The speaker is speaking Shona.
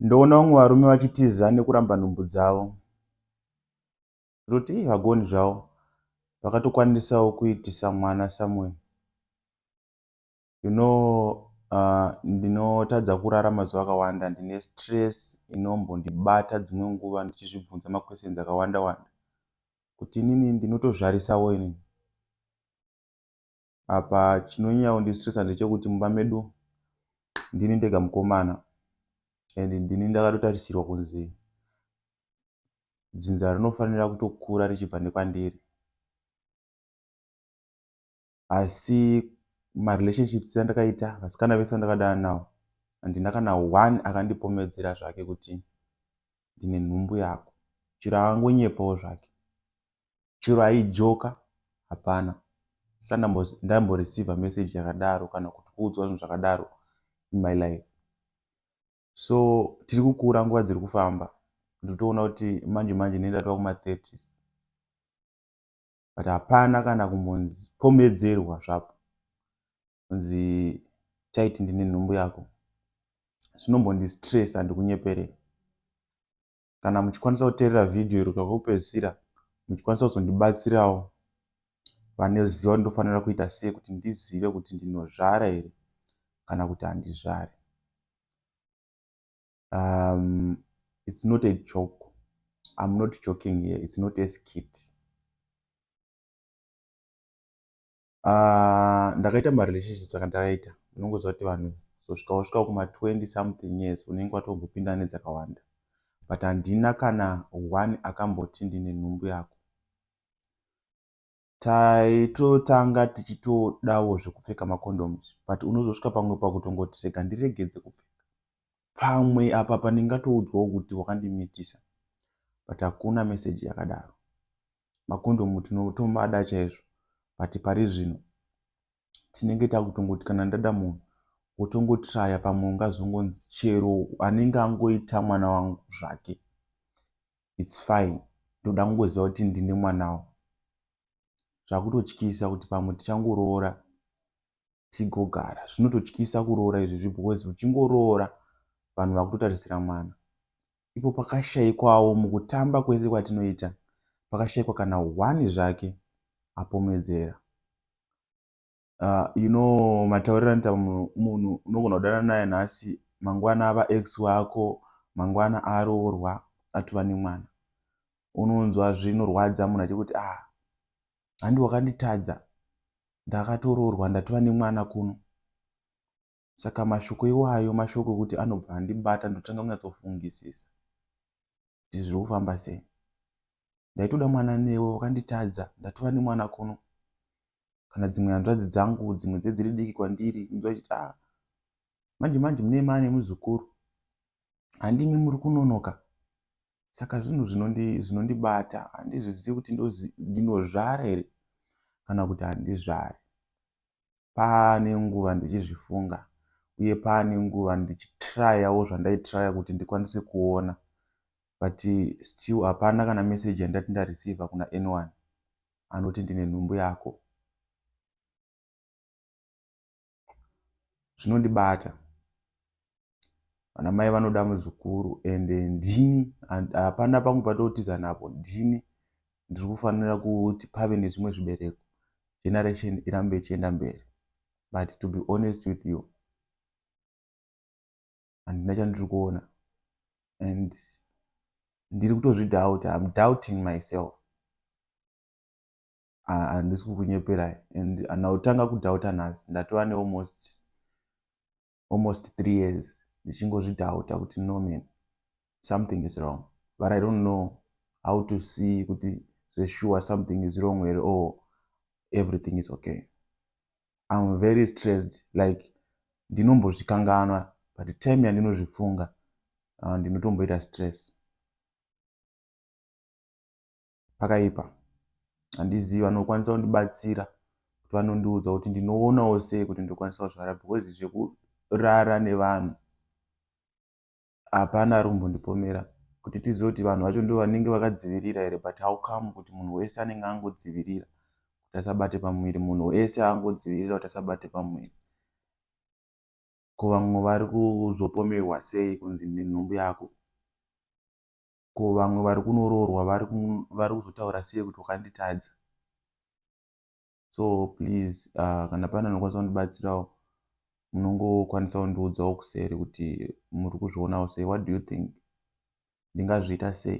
Ndoona vamwe varume vachitiza nekuramba nhumbu dzavo. Ndoti ii vagoni zvavo vakatokwanisawo kuitisa mwana Samuel. You know uh, ndinotadza kurara mazuva akawanda ndine stress inombondibata dzimwe nguva ndichizvibvunza maquestions akawanda wanda kuti inini ndinotozvarisawo inini. apa chinonyanya kundistresa ndechekuti mumba medu ndini ndega mukomana and ndini ndakatotarisirwa kunzi dzinza rinofanira kutokura richibva nekwandiri asi marelationships andakaita vasikana vese vandakadana nawo handina kana one akandipomedzera zvake kuti ndine nhumbu yako chiro akangonyepawo zvake chero aijoka hapana hsana ndamboreceiver message yakadaro kana kuti kuudzwa zvinhu zvakadaro in my life so tiri kukura nguva dziri kufamba ndotoona kuti manje manje nenda tova kuma30 but hapana kana kumbonzi pomedzerwa zvapo kunzi taiti ndine nhumbu yako zvinombondi stress andikunyeperei kana muchikwanisa kuteerera vhidhiyo iri kutsvaka kupedzisira muchikwanisa kuzondibatsirawo vanoziva kuti ndofanira kuita sei kuti ndizive kuti ndinozvara here kana kuti handizvari um, it's not a joke i'm not joking here it's not a skit Uh, ndakaita marelationships akandaita unongoziva kuti vanhu zosvika wasvika kuma 20 something years unenge watombopinda nedzakawanda but handina kana one akamboti ndine nhumbu yako taitotanga tichitodawo zvekupfeka macondoms but unozosvika pamwe pakutongoti rega ndiregedze kupfeka pamwe apa pandingatoudzwawo kuti wakandimitisa but hakuna meseji yakadaro makondomu tinotomada chaizvo but pari zvino tinenge takutongoti kana ndada munhu wotongotraya pamwe ungazongonzi chero anenge angoita mwana wangu zvake its fine ndoda kungoziva kuti ndine mwanawo zvakutotyisa kuti pamwe tichangoroora tigogara zvinototyisa kuroora izvi zvi because uchingoroora vanhu vakutotarisira mwana ipo pakashaikwawo mukutamba kwese kwatinoita pakashaikwa kana one zvake apomedzera uh, you know matauriro anoita munhu unogona kudana naye nhasi mangwana ava ex wako mangwana aroorwa atova nemwana unonzwa zvinorwadza munhu achikuti ah handi wakanditadza ndakatoroorwa ndatova nemwana kuno saka mashoko iwayo mashoko ekuti anobva andibata ndotanga kunyatsofungisisa kuti zviri kufamba sei ndaitoda mwana newe wakanditadza ndatova nemwana kuno kana dzimwe hanzvadzi dzangu dzimwe dzedziri diki kwandiri inzwa chiti a ah, manje manje mune mane muzukuru handimi muri kunonoka saka zvinhu zvinondibata zvinondi handizvizivi kuti ndinozvara here kana kuti handizvari paane nguva ndichizvifunga uye paane nguva ndichitrayawo zvandaitraya kuti ndikwanise kuona but still hapana kana meseji yandati ndareceiva kuna anyone anoti ndine nhumbu yako zvinondibata vana mai vanoda muzukuru and ndini hapana pangu patotiza napo ndini ndiri kufanira kuti pave nezvimwe zvibereko generation irambe ichienda mberi but to be honest with you handina chandiri kuona and ndiri kutozvidoubt im doubting myself handisi kukunyeperai and ndautanga kudhauta nhasi ndatova nealmost almost three years ndichingozvidhauta kuti no man something is wrong but i don't know how to see kuti zveshuwa something is wrong here or everything is okay im very stressed like ndinombozvikanganwa but time yandinozvifunga ah, ndinotomboita stress pakaipa handizivi vanokwanisa kundibatsira kuti vanondiudza kuti ndinoonawo sei kuti ndokwanisa kuzvara because zvekurara nevanhu hapana ari kumbondipomera kuti tizive kuti vanhu vacho ndo vanenge vakadzivirira here but how come kuti munhu wese anenge angodzivirira kuti asabate pamuviri munhu wese angodzivirira kuti asabate pamuviri ko vamwe vari kuzopomerwa sei kunzi nenhumbu yako ko vamwe vari kunoroorwa vari kuzotaura sei kuti wakanditadza so please uh, kana pane anokwanisa kundibatsirawo munongokwanisa kundiudzawo kuseri kuti muri kuzvionawo sei what do you think ndingazviita sei